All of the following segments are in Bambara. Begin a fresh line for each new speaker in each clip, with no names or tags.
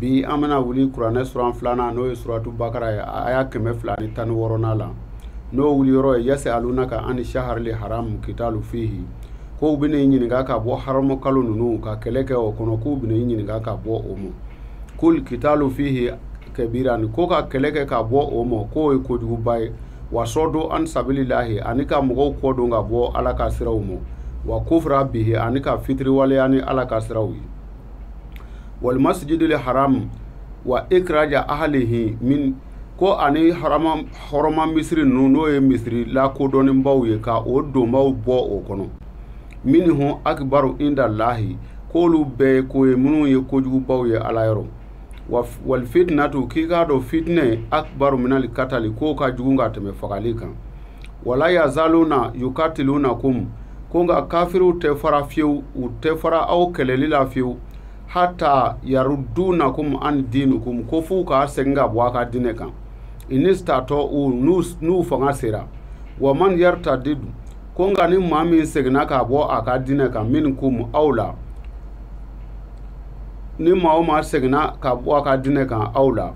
bi an bɛna wuli kuranɛ suran filanan n'o ye suratu bakara ye aya kɛmɛ fila ni tan ni wɔɔrɔnan la n'o wuli yɔrɔ ye yasealunaka ani saharili haramu kitalu fihi ko u bɛna i ɲininka ka bɔ haramu kalo ninnu ka kɛlɛ kɛ o kɔnɔ k'u bɛna i ɲininka ka bɔ o ma kul kitalu fihi kabirani ko ka kɛlɛ kɛ ka bɔ o ma k'o ye kojuguba ye wa sɔdon an sabililahi ani ka mɔgɔw kɔ don ka bɔ ala ka siraw ma wa kufra bihi ani ka fitiriwaleya ni ala ka siraw ye wali masijidil haram wa ikraja ahlihi min ko ani hɔrɔma misiri ninnu n'o ye misiri lakodɔnnenbaw ye ka o donbaw bɔ o kɔnɔ minihu akibaru indalahi k'olu bɛɛ ye ko ye minnu ye kojugubaw ye ala yɔrɔ wali fitinatu k'i k'a dɔn fitinɛ akibaru minali katali k'o ka jugu ka tɛmɛ fagali kan wala yazaluna yukatilunakum ko nka kafiriw tɛ fara fiyewu u tɛ fara aw kɛlɛli la fiyewu hata yarudunakum an dinukum ko f'u k'a segin ka bɔ a ka diinɛ kan inistatɔu n'u fanga sera wa man yartadidu ko nka ni maa min seginna ka bɔ a ka diinɛ kan minkum aw la ni maa o maa seginna ka bɔ a ka diinɛ kan aw la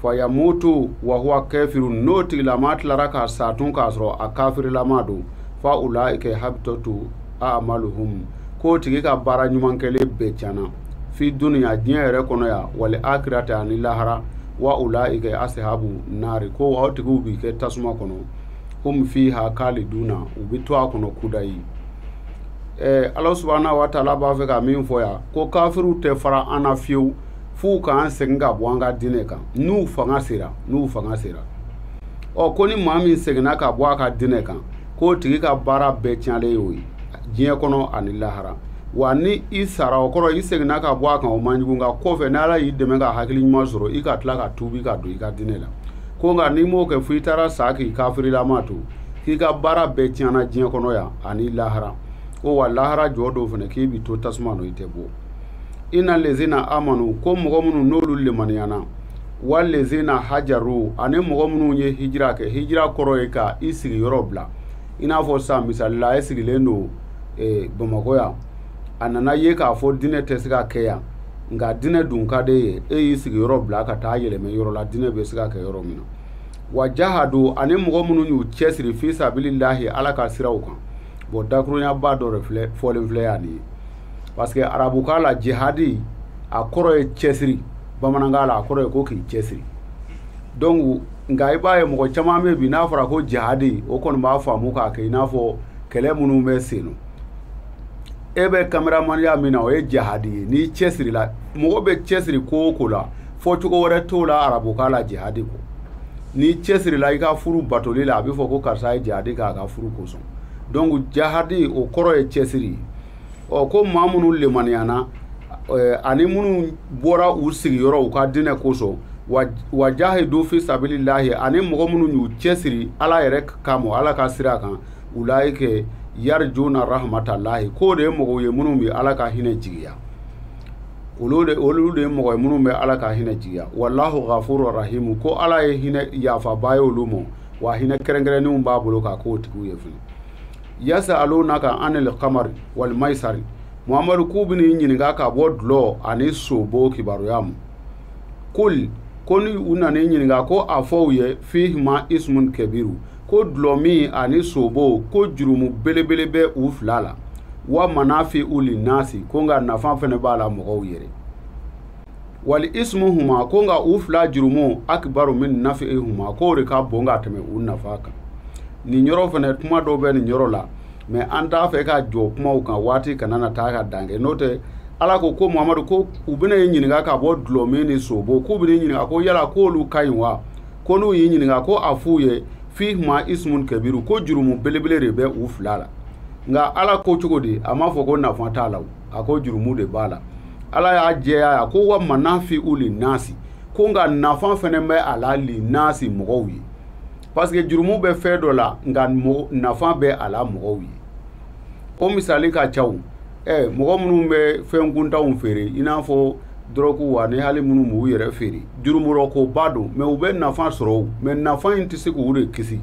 fayamutu wa huwa kafiru n'o tigilama tilara ka sa tun k'a sɔrɔ a kafirilama don fa ulaikɛ habitɔtu amaluhum k'o tigi ka baara ɲuman kɛlen bɛɛ tiɲɛna fi dunuya diɲɛ yɛrɛ kɔnɔ yan wali akiratɛ ani lahara wa ulaikɛ asahabu naari ko aw tigiw bi kɛ tasuma kɔnɔ hum fiha khaliduna u bɛ to a kɔnɔ kudayi ɛɛ ala subahana wa taala b'a fɛ ka min fɔ yan ko kafiriw tɛ fara an na fiyewu f'u k'an segin ka bɔ an ka diinɛ kan n'u fanga sera n'u fanga sera ɔ ko ni maa min seginna ka bɔ a ka diinɛ kan k'o tigi ka baara bɛɛ tiɲɛlen y'o ye diɲɛ kɔnɔ ani lahara wa ni i sara o kɔrɔ i seginna ka bɔ a kan o man jugu nka kɔfɛ ni ala y'i dɛmɛ ka hakili ɲuman sɔrɔ i ka tila ka tuubi ka don i ka diinɛ la ko nka n'i m'o kɛ fo i taara sa k'i kafirilama to k'i ka baara bɛɛ tiɲɛna diɲɛ kɔnɔ yan ani lahara ɔ wa lahara jɔdon fana k'i bi to tasuma nɔ i tɛ bɔ ina lezina amanu ko mɔgɔ minnu n'olu limaniyana wa lezina hajaru ani mɔgɔ minnu ye hijira kɛ hijira kɔrɔ ye ka i sigi yɔrɔ bila i n'a fɔ sisan misali la e sigilen don bamakɔ yan a nana ye k'a fɔ diinɛ tɛ se ka kɛ yan nka diinɛ dun ka d'e ye e y'i sigi yɔrɔ bila ka taa yɛlɛmɛ yɔrɔ la diinɛ bɛ se ka kɛ yɔrɔ min na wa jahadu ani mɔgɔ minnu y'u cɛsiri fi sabilillahi ala ka siraw kan bɔn dakurunɲaba dɔ de filɛ fɔlen filɛ yan nin ye parce que arabukan la jihadi a kɔrɔ ye cɛsiri bamanankan la a kɔrɔ ye ko k'i cɛsiri donc nka i b'a ye mɔgɔ caman bɛ bi n'a fɔra ko jihadi o kɔni b'a faamu k'a kɛ i n'a fɔ kɛlɛ minnu bɛ sen na e bɛ kameramaniya min na o ye jihadi ye n'i cɛsiri la mɔgɔ bɛ cɛsiri ko o ko la fɔ cogo wɛrɛ t'o la arabukan la jihadi ko n'i cɛsiri la i ka furu batoli la a bɛ fɔ ko karisa ye jihadi k'a ka furu kosɔn donc jihadi o kɔrɔ ye cɛsiri ye ɔ ko maa minnu lemaniyana eh, ani minnu bɔra u sigiyɔrɔ u ka dinɛ kosɔn wa jahidu fi sabilillahi ani mɔgɔ minnu y'u cɛsiri ala yɛrɛ kama ala ka sira kan ulaika yarjuna rahmatallahi k'o de ye mɔgɔw ye minnu bɛ ala ka hinɛ jigiya olu de ye mɔgɔ ye minnu bɛ ala ka hinɛ jigiya wallahu ghafuru rahimu ko ala ye hinɛ yafaba ye olu ma wa hinɛ kɛrɛnkɛrɛnnenw b'a bolo k'a k'o tigiw ye fana yasalunaka anil kamari wal maisari muhamadu k'u bɛn'i ɲininka ka bɔ dulɔ ani sobo kibaruya ma kul ko ni u nana i ɲininka ko a fɔ u ye fihima ismun kabiru ko dulɔmin ani sobo ko jurumu belebele bɛ u fila la wa manafi uli nasi ko nka nafa fana b'a la mɔgɔw yɛrɛ wali ismuhuma ko nka u fila jurumu akbaru min nafihuma k'o de ka bon ka tɛmɛ u nafa kan nin yɔrɔ fana kuma dɔw bɛ nin yɔrɔ la mais an t'a fɛ ka jɔ kumaw kan waati kana na taa ka dan kɛ n'o tɛ ala ko ko muhamadu ko u bɛna e ɲininka ka bɔ dulɔmin ni sobo k'u bɛn'i ɲininka ko yala k'olu ka ɲi wa ko n'u y'i ɲininka ko a f'u ye fihima ismun kabiru ko jurumu belebele de bɛ u fila la nka ala ko cogo di a m'a fɔ ko nafa t'a la a ko jurumu de b'a la ala y'a jɛya a ko wa manafi u li nasi ko nka nafa fana bɛ a la li nasi mɔgɔw ye parce que jurumu bɛ fɛn dɔ la nka nafa bɛ a la mɔgɔw ye o misali ka caw ɛ mɔgɔ minnu bɛ fɛn kuntanw feere i n'a fɔ dɔrɔguw ani hali minnu b'u yɛrɛ feere jurumurɔkoba don mais u bɛ nafa sɔrɔ mais nafa in tɛ se k'u de kisi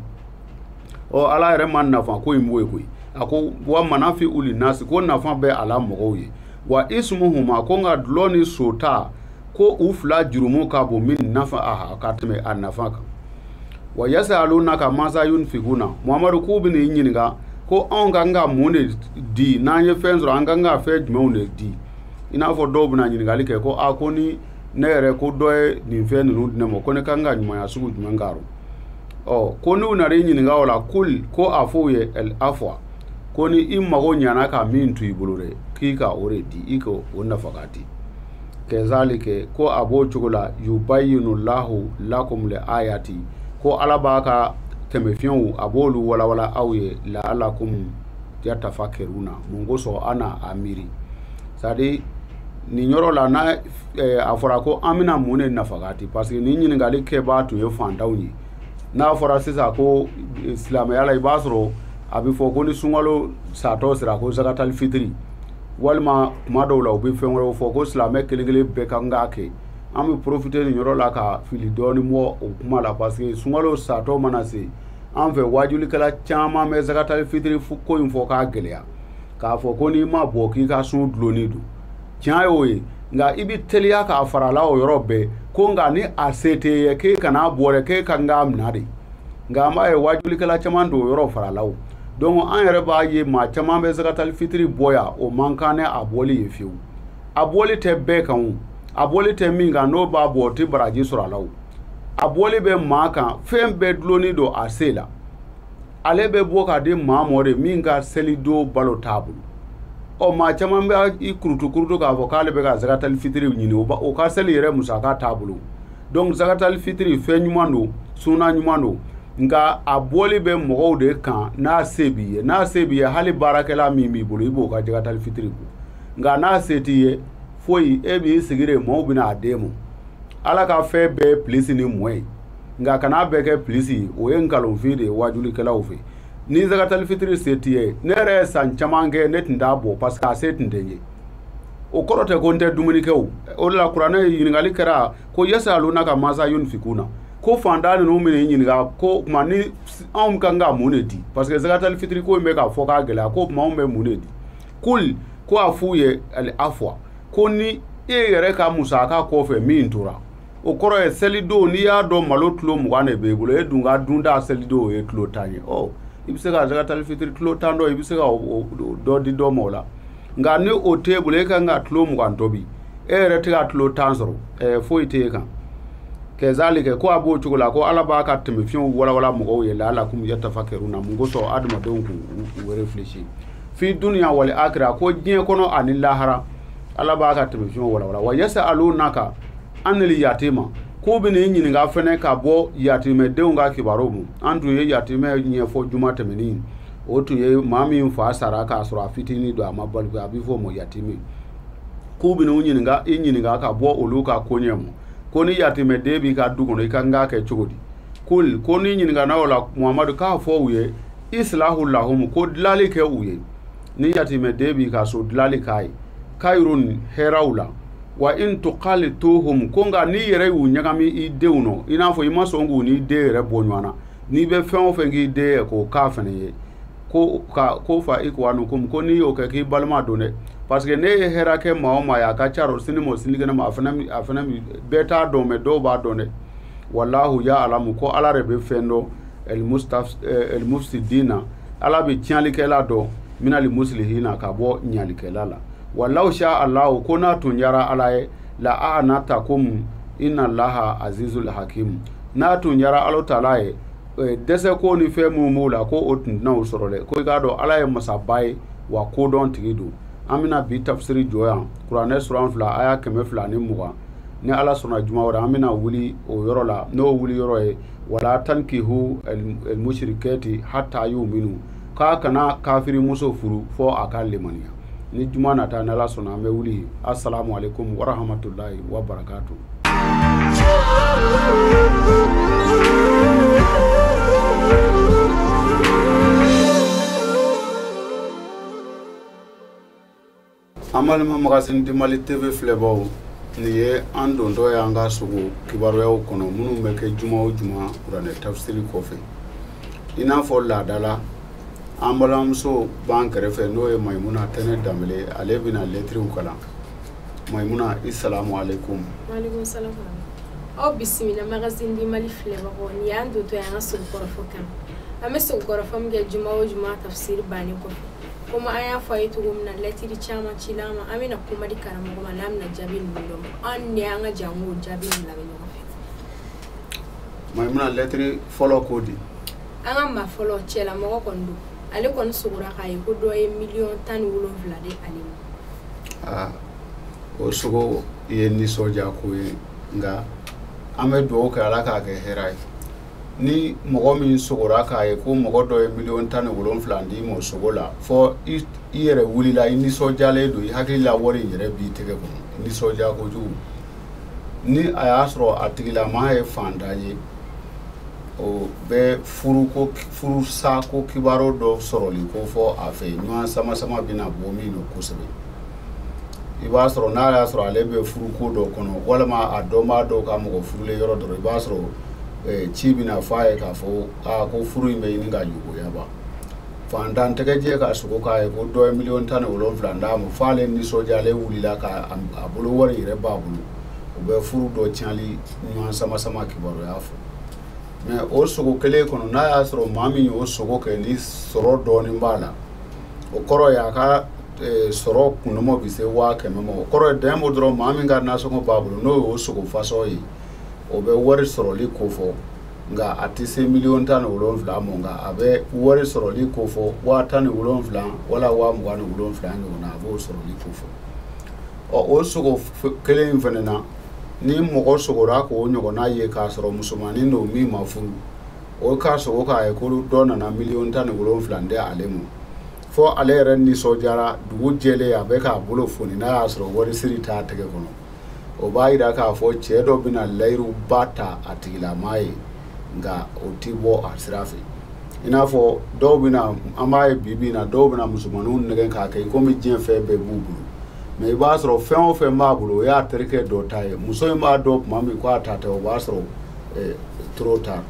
ɔ ala yɛrɛ ma nafa ko in bɔ yen koyi a ko wa manafi uli nasi ko nafa bɛ a la mɔgɔw ye wa ismuhuma ko nka dulɔ ni sota ko u fila jurumu ka bon min nafa aha ka tɛmɛ a nafa kan wa yasalunaka maza yunfikuna muhamadu k'u bɛn'i ɲininka ko anw ka kan ka mun de di n'an ye fɛn sɔrɔ an ka kan ka fɛn jumɛnw de di i n'a fɔ dɔw bɛna ɲininkali kɛ ko a ko ni ne yɛrɛ ko dɔ ye nin fɛn ninnu di ne ma ko ne ka kan ka ɲumanya sugu jumɛn k'a rɔ ɔ ko n'u nana i ɲininka o la kul ko a f'u ye al afwa ko ni i mago ɲana ka min to i bolo dɛ k'i ka o de di i ka o nafaka di kɛzalike ko a b'o cogo la yubayinu lahu lakum le ayati ko ala b'a ka taamasiyɛnw a b'olu walawala aw ye la'alakum yatafakaruna mun kosɔn an na a miiri c'est-à-dire nin yɔrɔ la n'a a fɔra ko an bɛna mun de nafaga di parce que ni ɲininkali kɛbaa tun ye fantanw ye n'a fɔra sisan ko eh, silamɛya la i b'a sɔrɔ a bɛ fɔ ko ni sunkalo satɔ sera ko zakatali fitiri walima kuma dɔw la u bɛ fɛn wɛrɛw fɔ ko silamɛ kelen kelen bɛɛ ka kan k'a kɛ an bɛ profiter nin yɔrɔ la ka fili dɔɔni bɔ o kuma la parce que sunkalo satɔ mana se an fɛ waajulikɛla caman bɛ zakatali fitiri ko in fɔ k'a gɛlɛya k'a fɔ ko n'i m'a bɔ k'i ka sun dulonnen don tiɲɛ y'o ye nka i bɛ teliya k'a fara a la o yɔrɔ bɛɛ ko nka ni a se t'e ye k'e kan'a bɔ dɛ k'e ka kan k'a minɛ de nka an b'a ye waajulikɛla caman don o yɔrɔ fara a la o donc an yɛrɛ b'a ye maa caman bɛ zakatali fitiri bɔ yan o man kan ni a bɔli ye fewu a bɔli tɛ bɛɛ kan o a bɔli tɛ min kan n'o b'a bɔ o tɛ baraji sɔrɔ a la o a bɔli bɛ maa kan fɛn bɛɛ dulonnen don a se la ale bɛ bɔ k'a di maa mɔ de min ka selidon balo t'a bolo ɔ maa caman bɛ i kurutu kurutu k'a fɔ k'ale bɛ ka zakatali fitiri ɲini o ka seli yɛrɛ musaka t'a bolo donc zakatali fitiri fɛn ɲuman don suna ɲuman don nka a bɔli bɛ mɔgɔw de kan n'a se b'i ye n'a se b'i ye hali baarakɛla min b'i bolo i b'o ka zakatali fitiri bɔ nka n'a se t'i ye foyi e b'i sigi de mɔɔw bɛna a d'e ma ala ka fɛn bɛɛ plus ni moins ye nka kana bɛɛ kɛ plus o ye nkalonfin de ye waajulikɛlaw fɛ ni zakatali fitiri se t'i ye ne yɛrɛ ye san caman kɛ ne tun t'a bɔ parce que a se tun tɛ n ye o kɔrɔ tɛ ko n tɛ dumuni kɛ o o de la kuranɛ ɲininkali kɛra ko yasaalunaka maza yunfikuna ko fantan ninnu bɛn'i ɲininka k'o tuma ni anw ka kan ka mun de di parce que zakatali fitiri ko in bɛ k'a fɔ k'a gɛlɛya k'o tuma anw bɛ mun de di kul ko a f'u ye al afwa ko ni e yɛrɛ ka musaka kɔfɛ min tora o kɔrɔ ye selidon n'i y'a dɔn malo kilo mugan de b'e bolo e dun ka dunta selidon o ye kilo tan ye ɔ i bɛ se ka zakatali fitiri kilo tan dɔ i bɛ se ka dɔ di dɔ ma o la nka ni o t'e bolo e ka kan ka kilo mugan tobi e yɛrɛ tɛ ka kilo tan sɔrɔ ɛɛ foyi tɛ e kan kɛzalike ko a b'o cogo la ko ala b'a ka taamasiyɛnw walawala mɔgɔw ye la'alakum yatafakaruna mun kosɔn adamadenw k'u u réfléchir fi dunya wal akira ko diɲɛ kɔnɔ ani lahara ala b'a ka taamasiyɛnw walawala wa yasa'alunaka anil yatima k'u bɛn'i ɲininka fɛnɛ ka bɔ yatimɛdenw ka kibaru ma an tun ye yatimɛ ɲɛfɔ juma tɛmɛni o tun ye maa min fa sara k'a sɔrɔ a fitinin don a ma baliku a bɛ fɔ o ma yatimi k'u bɛn'u ɲininka i ɲininka ka bɔ olu ka koɲɛ ma ko ni yatimɛden b'i ka du kɔnɔ i ka kan k'a kɛ cogo di kul ko n'i ɲininkana o la muhamadu k'a fɔ u ye isilahu lahumu ko dilali kɛ u ye ni yatimɛden b'i ka so dilali k'a ye kayirun hɛrɛw la wa in tukalituhum ko nka n'i yɛrɛ y'u ɲagami i denw nɔ i n'a fɔ i ma sɔn k'u n'i den yɛrɛ bɔ ɲɔgɔn na n'i bɛ fɛn o fɛn k'i den ye k'o k'a fɛnɛ ye ko ka ko fa ikuwanukum ko n'i y'o kɛ k'i balima don dɛ parce que n'i ye hɛrɛ kɛ maa o maa ye a ka ca rɔ sini ma o sinikɛnɛ ma a fana bɛɛ t'a dɔn mais dɔw b'a dɔn dɛ walahu ya alamu ko ala de bɛ fɛn dɔn almufsidina ala bɛ tiɲɛlikɛla dɔn min almuslihina ka bɔ ɲalikɛla la wa law sha allahu ko n'a tun diyara ala ye la a'anatakum inna allaha azizul hakim n'a tun diyara ala taala ye eh, dɛsɛko ni fɛn minnu b'o la ko o tun tɛna aw sɔrɔ dɛ ko i k'a dɔn ala ye masaba ye wa kodɔntigi don an bɛna bi tafsiri jɔ yan kuranɛ suran fila aya kɛmɛ fila ni mugan ni ala sɔnna juma wɛrɛ an bɛna wuli o yɔrɔ la n'o wuli yɔrɔ ye wala tankihu elmushrikati hatta yuminu k'a kana kafiri muso furu fɔ a ka lemaniya ni juma nata n'ala sɔnna an bɛ wuli asalamu aleykum warahamatulayi wa barakatu an balima magazine du mali tv filɛbaw nin ye an dontɔ ye an ka sogo kibaruyaw kɔnɔ minnu bɛ kɛ juma o juma kuranɛ tafsiri kɔfɛ i n'a fɔ laada la an balimamuso b'an kɛrɛfɛ n'o ye mayimuna tɛnɛ danbele ale bɛna lɛtiriw kalan mayimuna asalamu aleykum
aw bisimila magazine du mali filɛbagaw nin y'an dontɔ ye an ka sogo kɔrɔfɔ kan an bɛ sogo kɔrɔfɔ min kɛ juma o juma tafsiri bannen kɔfɛ komi an y'a fɔ aw ye cogo min na lɛtiri caman cila an ma an bɛna kuma di karamɔgɔ ma n'a bɛna jaabi ninnu d'aw ma an de y'an ka janko jaabi ninnu lamɛn ɲɔgɔn fɛ mayimuna
lɛtiri fɔlɔ ko di an ka maa
fɔlɔ cɛlamɔgɔ kɔni don ale kɔni sogora k'a ye ko dɔ ye miliyɔn tan ni wolonwula di ale ma aa o sogo
ye nisɔndiya ko ye nka an bɛ dugawu kɛ ala k'a kɛ hɛrɛ ye ni mɔgɔ min sogora k'a ye ko mɔgɔ dɔ ye miliyɔn tan ni wolon wolonwula d'i ma sogo la fɔ i yɛrɛ wulila i nisɔndiyalen don i hakili la wari in yɛrɛ b'i tɛgɛ kɔnɔ nisɔndiya kojugu ni a y'a sɔrɔ a tigilama ye fantan ye o bɛ furusako kibaru dɔ sɔrɔli kofɔ a fɛ ɲɔgɔn sama sama bɛna bɔ min dɔ kosɛbɛ i b'a sɔrɔ n'a y'a sɔrɔ ale bɛ furuko dɔ kɔnɔ walima a dɔnbaa dɔw ka mɔgɔ furulen yɔrɔ dɔrɔn i b'a sɔrɔ eh, ci bɛna fɔ a ye k'a fɔ aa ko furu in bɛ ɲini ka juguya ban fantan tɛgɛjɛ ka sogo k'a ye ko dɔ ye miliyɔn tan ni wolonwula d'a ma fo ale nisɔndiyalen wulila k'a bolo wari yɛrɛ b'a bolo o bɛ furu dɔ tiɲɛli ɲɔgɔn sama sama kibaruya fɔ mais o sogo kelen kɔnɔ n'a y'a sɔrɔ maa min y'o sogo kɛ ni sɔrɔ dɔɔnin b'a la o kɔrɔ ye a ka sɔrɔ kunmɔ bɛ se waa kɛmɛ ma o kɔrɔ ye dɛmɛ bɔ dɔrɔn maa min ka nasɔngɔ b'a bolo n'o y'o sogo fasɔn ye o bɛ wari sɔrɔli ko fɔ nka a tɛ se miliyɔn tan ni wolonwula ma nka a bɛ wari sɔrɔli ko fɔ waa tan ni wolonwula wala waa mugan ni wolonwula ɲɔgɔnna a b'o sɔrɔli ko fɔ ɔ o sogo kelen in fana na ni mɔgɔ sogora k'o ɲɔgɔnna ye k'a sɔrɔ musomanin don min ma furu o k'a sogo k'a ye ko dɔ nana miliyɔn tan ni wolonwula di ale ma fo ale yɛrɛ nisɔndiyara dugu jɛlen a bɛ k'a bolo foni n'a y'a sɔrɔ wari siri t'a tɛgɛ kɔnɔ o b'a yira k'a fɔ cɛ dɔ bɛna layiruba ta a tigilamaa ye nka o ti bɔ a sira fɛ i n'a fɔ dɔw bɛna an b'a ye bi bi in na dɔw bɛna musomaninw nɛgɛn k'a kɛ i komi diɲɛ fɛn bɛɛ b'u bolo mais i b'a sɔrɔ fɛn o fɛn b'a bolo o y'a terikɛ dɔ ta ye muso in b'a dɔn tuma min ko a ta tɛ o b'a sɔrɔ eh, trop tard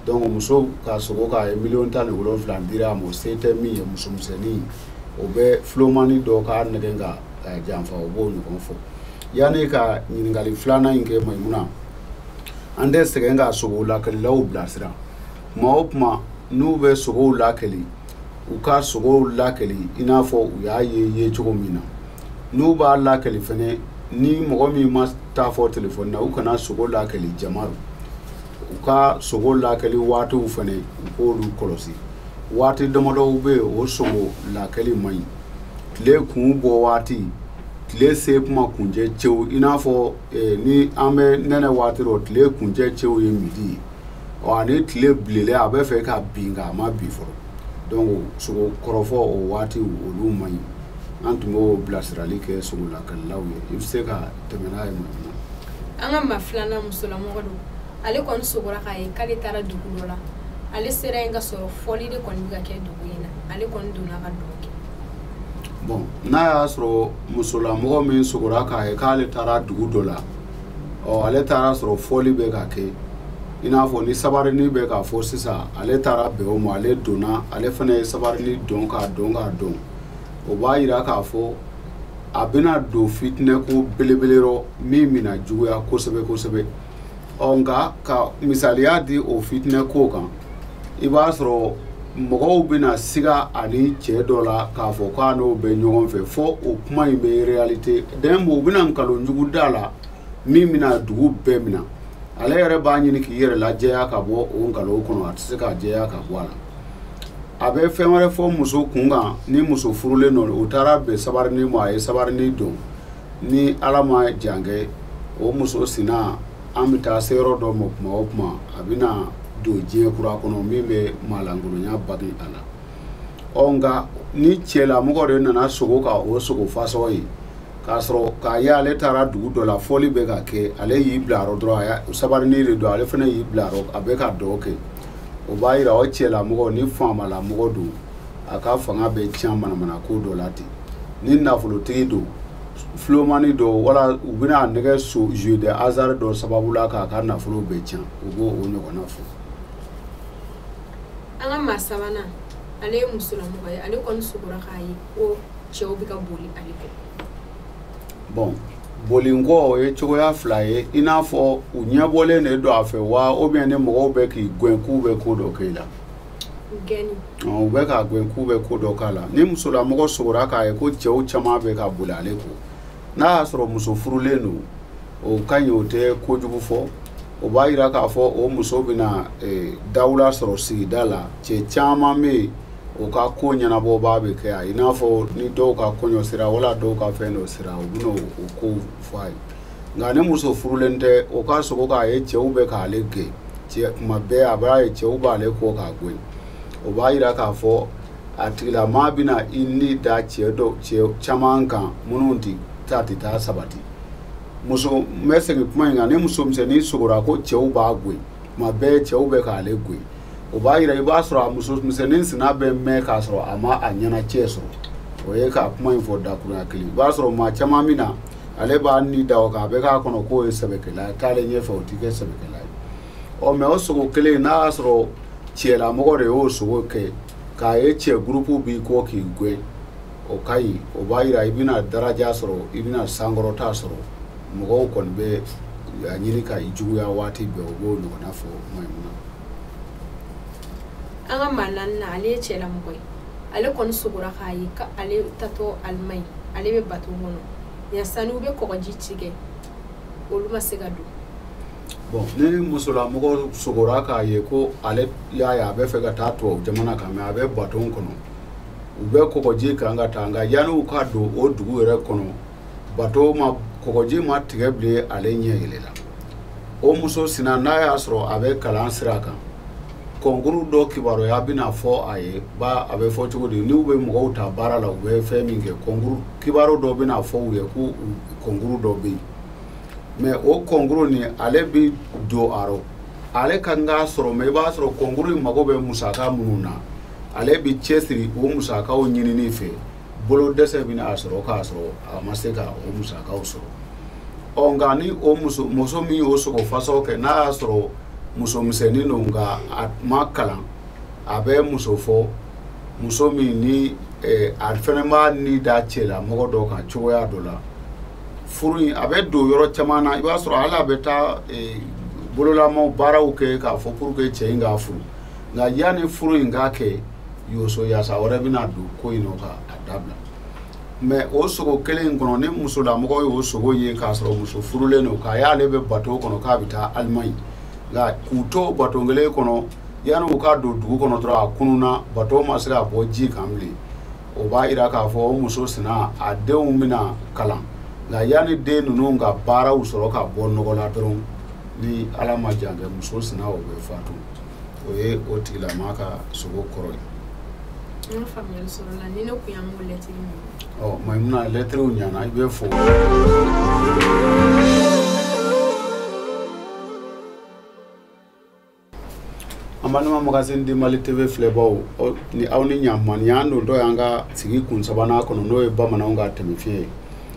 donc muso ka sogo k'a ye miliyɔn tan ni wolonwula dira a ma o se tɛ min ye musomisɛnnin o bɛ filomani dɔ k'a nɛgɛn k'a janfa o b'o ɲɔgɔn fɔ yanni ka ɲininkali filanan in kɛ mayimuna an tɛ sɛgɛn ka sogow lakɛlilaw bilasira tuma o tuma n'u bɛ sogow lakɛli u ka sogow lakɛli i n'a fɔ u y'a ye ye cogo min na n'u b'a lakɛli fɛnɛ ni mɔgɔ min ma taa fɔ telefɔni na u kana sogo lakɛli jama rɔ u ka sogo lakɛli waatiw fana u k'olu kɔlɔsi waati damadɔw bɛ yen o sogo lakɛli man ɲi tile kun bɔ waati tile se kuma kuncɛ cɛ i n'a fɔ eh, ni an bɛ nɛnɛ waati rɔ tile kuncɛ cɛ o ye midi ye ɔ ani tile bilenlen a bɛ fɛ ka bin nka a ma bin fɔlɔ donc sogo kɔrɔfɔ o waati olu man ɲi an tun b'o bilasirali kɛ sogo lakɛlilaw ye i bɛ se ka an ka
maa filanan musolamɔgɔ don ale kɔni sogora k'a ye k'ale taara dugu dɔ la ale sera yen k'a sɔrɔ fɔli de kɔni bɛ ka kɛ dugu in na ale kɔni donna ka dɔn kɛ bon
n'a y'a sɔrɔ musolamɔgɔ min sogora k'a ye k'ale taara dugu dɔ la ɔ ale taara sɔrɔ fɔli bɛ ka kɛ i n'a fɔ ni sabarini bɛ ka fɔ sisan ale taara bɛn o ma ale donna ale fana ye sabarini dɔn k'a dɔn k'a dɔn o b'a yira k'a fɔ a bɛna don fitinɛ ko belebele rɔ min bɛna juguya kosɛbɛ kosɛbɛ ɔ nka ka misaliya di o fitinɛ ko kan i b'a sɔrɔ mɔgɔw bɛna siga ani cɛ dɔ la k'a fɔ k'a n'o bɛ ɲɔgɔn fɛ fɔ o kuma in bɛ réalité dɛmɛ u bɛna nkalon jugu d'a la min bɛna dugu bɛɛ minɛ ale yɛrɛ b'a ɲini k'i yɛrɛ lajɛya ka bɔ o nkalon kɔnɔ a tɛ se ka jɛya ka bɔ a la a bɛ fɛn wɛrɛ fɔ muso kun kan ni muso furulen don o taara bɛn sabarini ma a ye sabarini dɔn ni ala ma jan kɛ o muso sina an bɛ taa se yɔrɔ dɔ ma kuma o kuma a bɛna don diɲɛ kura kɔnɔ min bɛ maalankolonya bagi a la ɔ nka ni cɛlamɔgɔ de nana sogo ka o sogo fasɔn ye k'a sɔrɔ k'a ye ale taara dugu dɔ la fɔli bɛ ka kɛ ale y'i bila a rɔ dɔrɔn sabarini de don ale fana y'i bila a rɔ a bɛ ka dɔn kɛ o b'a yira o cɛlamɔgɔ ni faamalamɔgɔ don a ka fanga bɛ tiɲɛ manamanako dɔ la ten ni nafolotigi don filomani dɔ wala u bɛn'a nɛgɛn so jeu de hasard dɔ sababu la k'a ka nafolo bɛɛ tiɲɛ u b'o ɲɔgɔnna
fɔ an ka maa sabanan ale ye musolamɔgɔ ye ale kɔni sugora k'a ye ko cɛw bɛ ka boli ale kɔ
bon bolinkɔ o ye cogoya fila ye i n'a fɔ u ɲɛbɔlen de don a fɛ wa ou bien ni mɔgɔw bɛ k'i gɛn k'u bɛ ko dɔ kɛ i la
u bɛ k'a
gɛn k'u bɛ ko dɔ k'a la ni musolamɔgɔ sogora k'a ye ko cɛw caman bɛ ka boli ale kɔ n'a y'a sɔrɔ muso furulen don o ka ɲi o tɛ kojugu fɔ o b'a jira k'a fɔ o muso bɛna eh, dawula sɔrɔ sigida la cɛ caman bɛ yen u ka ko ɲɛnabɔbaa bɛ kɛ a ye i n'a fɔ ni dɔw ka kɔɲɔ sera wala dɔw ka fɛn dɔ sera u bɛna o ko fɔ a ye nka ni muso furulen tɛ o ka sogo k'a ye cɛw bɛ k'ale gɛn tuma bɛɛ a b'a ye cɛw b'ale kɔ k'a gɛn o b'a yira k'a fɔ a tigilamaa bɛna i ni da cɛ dɔ cɛ caman kan minnu tɛ taa tɛ taa sabati muso n bɛ segin kuma in kan ni muso misɛnnin sogora ko cɛw b'a gɛn tuma bɛɛ cɛw bɛ k'ale gɛn o b'a jira i b'a sɔrɔ a muso misɛnnin sina bɛ mɛn k'a sɔrɔ a ma a ɲɛna cɛ sɔrɔ o ye ka kuma in fɔ dakurunya kelen i b'a sɔrɔ maa caman min na ale b'a ni da o kan a bɛ k'a kɔnɔ k'o ye sɛbɛkɛla ye taalen ɲɛfɛ o tɛ kɛ sɛbɛkɛla ye ɔ mais o sogo kelen n'a y'a sɔrɔ cɛlamɔgɔ de y'o sogo kɛ k'a ye cɛ gurupu b'i kɔ k'i gɛn o ka ɲi o b'a jira i bɛna daraja sɔrɔ i bɛna sankɔrɔta sɔrɔ mɔgɔw kɔni bɛ a ɲini ka i juguya waati bɛɛ o b'o ɲɔgɔnna fɔ
maimuna an ka maa naaninan ale ye cɛlamɔgɔ ye ale kɔni sogora k'a ye ko ale taatɔ alimaɲi ale bɛ bato kɔnɔ yan sani u bɛ kɔgɔji tigɛ olu ma se ka don
bon ni musolamɔgɔ sogora k'a ye ko ale y'a ye a bɛ fɛ ka taa tubabu jamana kan mɛ a bɛ bato kɔnɔ u bɛ kɔgɔji kan ka taa nka yanni u ka don o dugu yɛrɛ kɔnɔ bato ma kɔgɔji ma tigɛ bilen ale ɲɛ yɛlɛla o muso sina n'a y'a sɔrɔ a bɛ kalan sira kan kɔnkuru dɔ kibaruya bɛna fɔ a ye ba a bɛ fɔ cogo di n'u bɛ mɔgɔw ta baara la u bɛ fɛn min kɛ kɔnkuru kibaru dɔ bɛna fɔ u ye ko kɔnkuru dɔ bɛ yen mɛ o kɔnkuru nin ale bɛ don a rɔ ale ka kan k'a sɔrɔ mɛ i b'a sɔrɔ kɔnkuru in mago bɛ musaka minnu na ale bɛ cɛsiri o musakaw ɲinini fɛ bolo dɛsɛ bɛna a sɔrɔ k'a sɔrɔ a ma se ka o musakaw sɔrɔ ɔ nka ni o muso muso min y'o sogo fasaw kɛ n'a y'a sɔrɔ muso misɛnnin don nka a ma kalan a bɛ muso fɔ muso min ni eh, a fɛnɛ b'a ni da cɛlamɔgɔ dɔ kan cogoya dɔ la furu in a bɛ don yɔrɔ caman na i b'a sɔrɔ hali a bɛ taa eh, bololama baaraw kɛ k'a fɔ pour que cɛ in k'a furu nka yanni furu in ka kɛ yoso yasa wɛrɛ bɛna don ko in nɔ ka a dabila mɛ o sogo kelen in kɔnɔ ni musolamɔgɔ y'o sogo ye k'a sɔrɔ muso furulen don k'a y'ale bɛ bato kɔnɔ k'a bɛ taa alimaɲi nka k'u to bato kelen kɔnɔ yanni u ka don dugu kɔnɔ dɔrɔn a kununna bato ma se ka bɔ ji kan bilen o b'a jira k'a fɔ o muso sina a denw bɛna kalan nka yanni den ninnu ka baaraw sɔrɔ ka bɔ nɔgɔ la dɔrɔn ni ala ma jan kɛ muso sina o bɛ fatu o ye o tigilamaa ka sogo kɔrɔ
ye maimuna lɛtiriw
ɲana i bɛ fo an balima magazine di mali tv filɛbaw ni aw ni ɲankuma nin y'an dontɔ y'an ka sigi kun sabanan kɔnɔ n'o ye bamananw ka tɛmɛfiɲɛ ye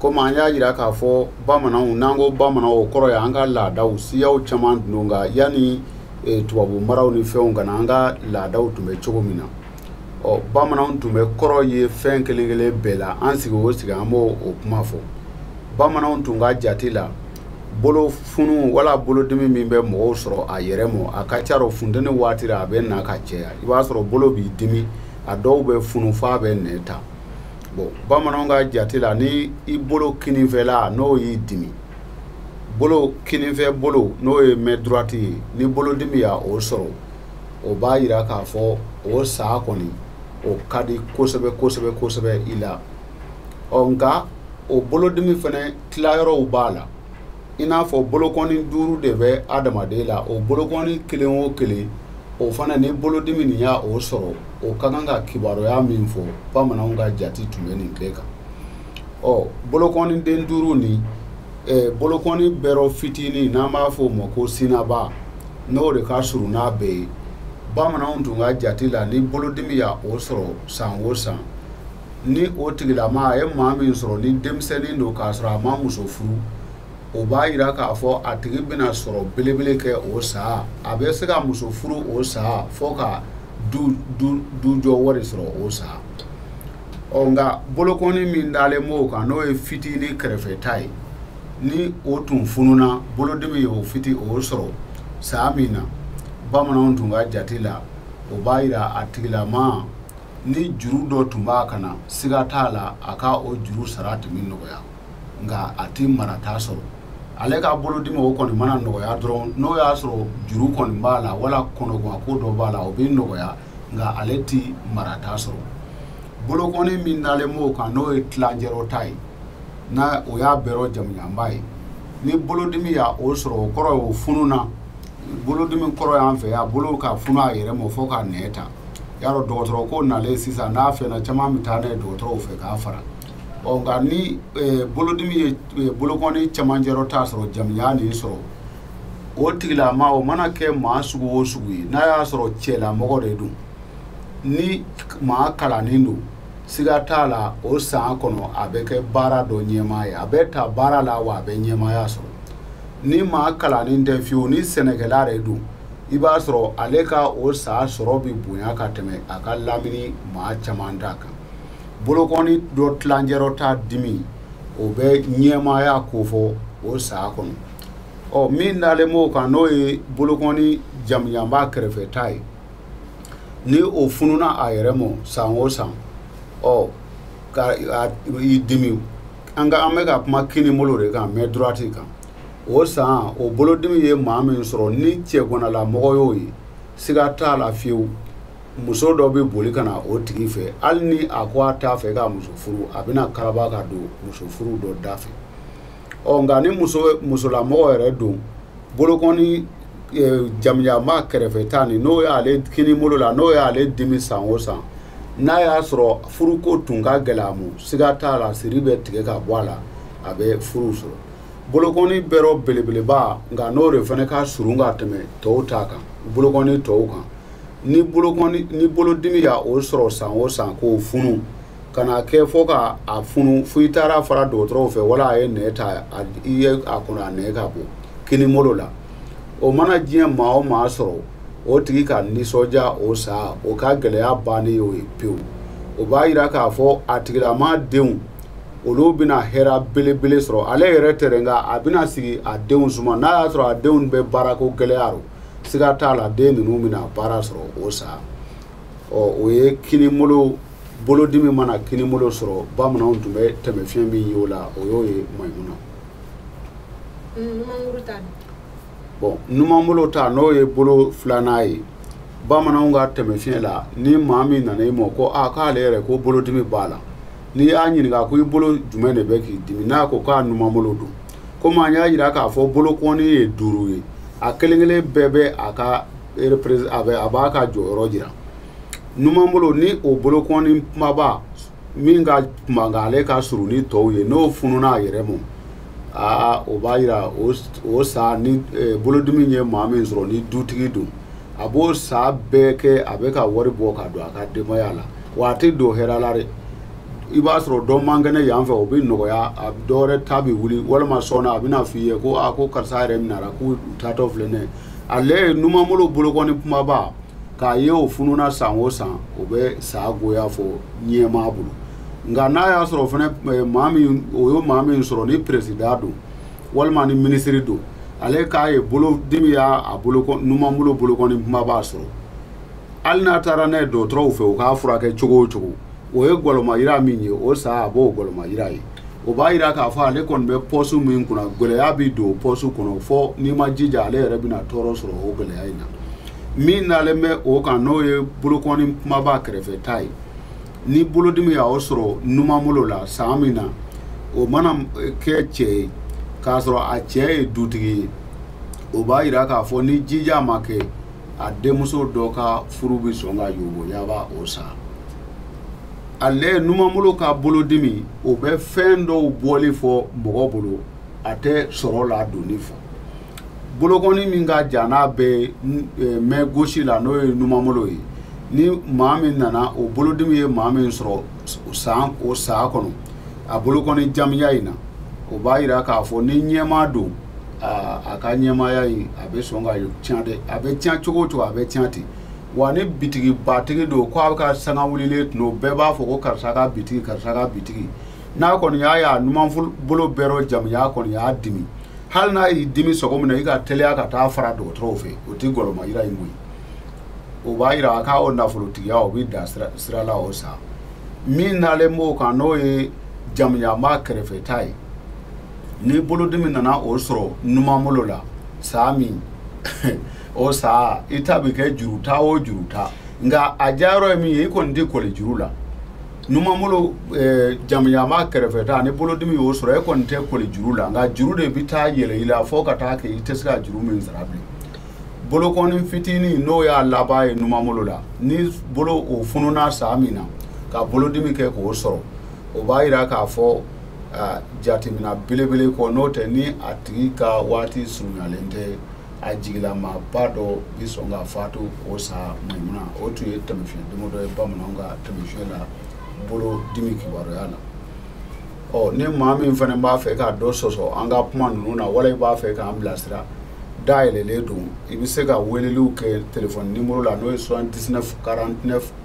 komi an y'a jira k'a fɔ bamananw n'an ko bamananw o kɔrɔ ye an ka laadaw siyaw caman tun don nka yanni e, tubabu maraw ni fɛnw ka na an ka laadaw tun bɛ cogo min na ɔ bamananw tun bɛ kɔrɔ ye fɛn kelen kelen bɛɛ la an sigi o sigi an b'o kuma fɔ bamananw tun ka jate la bolo funu wala bolodimi min bɛ mɔgɔw sɔrɔ a yɛrɛ mɔ a ka ca rɔ funteni waati la a bɛ na ka caya i b'a sɔrɔ bolo b'i dimi a dɔw bɛ funu f'a bɛ nɛn ta bon bamananw ka jate la ni i bolo kininfɛla n'o y'i dimi bolo kininfɛ bolo n'o ye main droite ye ni bolodimi y'a o sɔrɔ o b'a yira k'a fɔ o saa kɔni o ka di kosɛbɛ kosɛbɛ kosɛbɛ i la ɔ nka o bolodimi fɛnɛ tilayɔrɔw b'a la i n'a fɔ bolokɔni duuru de bɛ adamaden la o bolokɔni kelen o kelen o fana ni bolodimi nin y'a o sɔrɔ o ka kan ka kibaruya min fɔ bamananw ka jate tun bɛ nin bɛɛ kan ɔ bolokɔni den duuru ni eh, bolokɔni bɛɛ rɔ fitinin n'an b'a fɔ o ma ko sinaba n'o de ka surun n'a bɛɛ ye bamananw tun ka jate la ni bolodimi y'a o sɔrɔ san o san ni o tigilama a ye maa min sɔrɔ ni denmisɛnnin don k'a sɔrɔ a ma muso furu o b'a yira k'a fɔ a tigi bɛna sɔrɔ belebele kɛ o saa a bɛ se ka muso furu o saa fo ka dujɔ wari sɔrɔ o saa ɔ nka bolokɔni min dalen b'o kan n'o ye fitinin kɛrɛfɛ ta ye ni o tun fununa bolodimi ye o fiti o sɔrɔ saa min na bamananw tun ka jate la o b'a yira a tigilama ni juru dɔ tun b'a kan na siga t'a la a ka o juru sara tun bɛ nɔgɔya nka a tɛ marata sɔrɔ ale ka bolodimi o kɔni mana nɔgɔya dɔrɔn n'o y'a sɔrɔ juru kɔni b'a la wala kɔnɔguwan ko dɔ b'a la o bɛ nɔgɔya nka ale tɛ marata sɔrɔ bolokɔni min dalen b'o kan n'o ye tilancɛrɔ ta ye n'o y'a bɛɛ rɔ jamujanba ye ni bolodimi y'a o sɔrɔ o kɔrɔ ye o fununa bolodimi kɔrɔ y'an fɛ yan bolo ka funu a yɛrɛ ma fo ka nɛn ta y'a dɔn dɔgɔtɔrɔ ko nalen sisan n'a fɛnna caman bɛ taa n'a ye dɔgɔtɔrɔw fɛ k'a fara ɔ nka ni eh, bolodimi ye eh, bolokɔni camancɛrɔ ta sɔrɔ jamujan nin sɔrɔ o tigilama o mana kɛ maa sugu o sugu ye n'a y'a sɔrɔ cɛlamɔgɔ de don ni maa kalannen don siga t'a la o san kɔnɔ a bɛ kɛ baara dɔ ɲɛmaa ye a bɛ taa baara la wa a bɛ ɲɛmaaya sɔrɔ ni maa kalannen tɛ fiyewu ni sɛnɛkɛla de don i b'a sɔrɔ ale ka o saa sɔrɔ bɛ bonya ka tɛmɛ a ka lamini maa caman ta kan bolokɔni dɔ tilancɛrɔ ta dimi o bɛ ɲɛmaaya kofɔ o saa kɔnɔ ɔ min dalen b'o kan n'o ye bolokɔni jamujanba kɛrɛfɛ ta ye ni o fununa a yɛrɛ ma san o san ɔ ka i dimi an ka an bɛ ka kuma kinibolo de kan main droite kan o san o bolodimi ye maa min sɔrɔ ni cɛganalamɔgɔ y'o ye siga t'a la fiyewu muso dɔ bɛ boli ka na o tigi fɛ hali ni a ko a t'a fɛ ka muso furu a bɛna karaba ka don muso furu dɔ da fɛ ɔ nka ni musolamɔgɔ yɛrɛ don bolokɔni jamanjanba kɛrɛfɛta nin n'o y'ale kinibolo la n'o y'ale dimi san o san n'a y'a sɔrɔ furuko tun ka gɛlɛ a ma siga t'a la siri bɛ tigɛ ka bɔ a la a bɛ furu sɔrɔ Bolokɔni bɛɛ rɔ belebeleba nka n'o de fana ka surun ka tɛmɛ tɔw ta kan bolokɔni tɔw kan ni bolodimi y'o sɔrɔ san o san k'o funu ka na kɛ fɔ k'a funu f'i taara fara dɔgɔtɔrɔw fɛ wala a ye nɛn ta i ye a kɔnɔ a nɛn ka bɔ kinibolo la o mana diɲɛ maa o maa sɔrɔ o tigi ka nisɔndiya o san o ka gɛlɛya bannen y'o ye pewu o b'a yira k'a fɔ a tigilamaa denw olu bɛna hɛrɛ belebele sɔrɔ ale yɛrɛ tɛ dɛ nka a bɛna sigi a denw suma n'a y'a sɔrɔ a denw bɛ baarako gɛlɛya rɔ siga t'a la den ninnu bɛna baara sɔrɔ o san ɔ o ye kinibolo bolodimi mana kinibolo sɔrɔ bamananw tun bɛ tɛmɛ fiɲɛ min ye o la o y'o ye Mayimuna. bɔn numan bolo ta n'o ye bolo filanan ye bamananw ka tɛmɛ fiɲɛ la ni maa min nana i ma ko a ah, k'ale yɛrɛ ko bolodimi b'a la n'i y'a ɲininka ko i bolo jumɛn de bɛ k'i dimi n'a ko k'a numan bolo don komi an y'a yira k'a fɔ bolokɔni ye duuru ye a kelen kelen bɛɛ bɛ a ka a b'a ka jɔyɔrɔ yira numan bolo ni o bolokɔni kumaba min ka kuma nka ale ka surun ni tɔw ye n'o fununa a yɛrɛ ma aa o b'a yira o san ni eh, bolodimi ye maa min sɔrɔ ni dutigi don a b'o san bɛɛ kɛ a bɛ ka wari bɔ ka don a ka denbaya la wa a tɛ don hɛrɛ la dɛ i b'a sɔrɔ dɔ man kɛnɛ yan fɛ o bɛ nɔgɔya a dɔwɛrɛ ta bɛ wuli walima sɔnna a bɛna f'i ye ko karisa yɛrɛ minɛra k'u taatɔ filɛ n'ale ye numanbolo bolokɔni kumaba k'a ye o fununa san o san o bɛ san goya fɔ ɲɛmaa bolo nka n'a y'a sɔrɔ fana eh, maa min o ye maa min sɔrɔ ni perezida don walima ni minisiri don ale k'a ye bolo dimi y'a a bolo numan bolo bolokɔni kumaba sɔrɔ hali n'a taara n'a ye dɔgɔtɔrɔw fɛ u k'a furakɛ cogo o cogo o ye gɔlɔmayira min ye o san a b'o gɔlɔmayira ye o b'a yira k'a fɔ ale kɔni bɛ pɔsu min kunna gɛlɛya bɛ don pɔsu kɔnɔ fɔ n'i ma jija ale yɛrɛ bɛna tɔɔrɔ sɔrɔ o gɛlɛya in na min nalen bɛ o kan n'o ye bolokɔni kumaba kɛrɛfɛta ye ni bolodimi y'o sɔrɔ numan bolo la san min na o mana kɛ cɛ ye k'a sɔrɔ a cɛ ye dutigi ye o b'a yira k'a fɔ ni jija ma kɛ a denmuso dɔ ka furu bɛ sɔn ka yoboyaba o san ale numanbolo ka bolodimi o bɛ fɛn dɔw bɔli fɔ mɔgɔ bolo a tɛ sɔrɔ ladonni fɔ bolokɔni min ka jan n'a bɛ mɛ gosi la n'o ye numanbolo ye ni maa min nana o bolodimi ye maa min sɔrɔ o saa kɔnɔ a bolokɔni jamiya in na o b'a jira k'a fɔ ni ɲɛmaa don a ka ɲɛmaaya in a bɛ sɔn ka tiɲɛ dɛ a bɛ tiɲɛ cogo o cogo a bɛ tiɲɛ ten wa ni bitigibatigi don ko a ka sanga wulilen tun don bɛɛ b'a fɔ ko karisa ka bitigi karisa ka bitigi n'a kɔni y'a ye a numanbolo bɛɛ rɔ jamuya kɔni y'a dimi hali n'a y'i dimi cogo min na i ka teliya ka taa fara dɔgɔtɔrɔw fɛ o tɛ gɔlɔma yira in koyi o b'a yira a ka o nafolotigiya o bɛ da sira la o sa min dalen b'o kan n'o ye jamuyama kɛrɛfɛta ye ni bolodimi nana o sɔrɔ numanbolo la saa min o sa i ta bɛ kɛ juru ta o juru ta nka a diyayɔrɔ ye min ye i kɔni tɛ kɔli juru la numanbolo eh, jamuyama kɛrɛfɛta ni bolodimi y'o sɔrɔ e kɔni tɛ kɔli juru la nka juru de bɛ taa yɛlɛ i la fo ka taa kɛ i tɛ se ka juru min sara bilen bolokɔni fitinin n'o y'a laban ye numanbolo la ni bolo o fununa saa min na ka bolodimi kɛ k'o sɔrɔ o b'a yira k'a fɔ ah, jateminɛ belebele kɔ n'o tɛ ni a tigi ka waati surunyalen tɛ a jigilamaaba dɔ bɛ sɔn ka faatu o sa mayimuna o tun ye tɛmɛfiɲɛ dama dɔ ye bamananw ka tɛmɛfiɲɛ la bolo dimi kibaruya la ɔ ni maa min fana b'a fɛ ka dɔ sɔsɔ an ka kuma ninnu na wala i b'a fɛ k'an bilasira dayɛlɛlen don i bɛ se ka weleliw kɛ telefɔni nimoro la n'o ye 79 49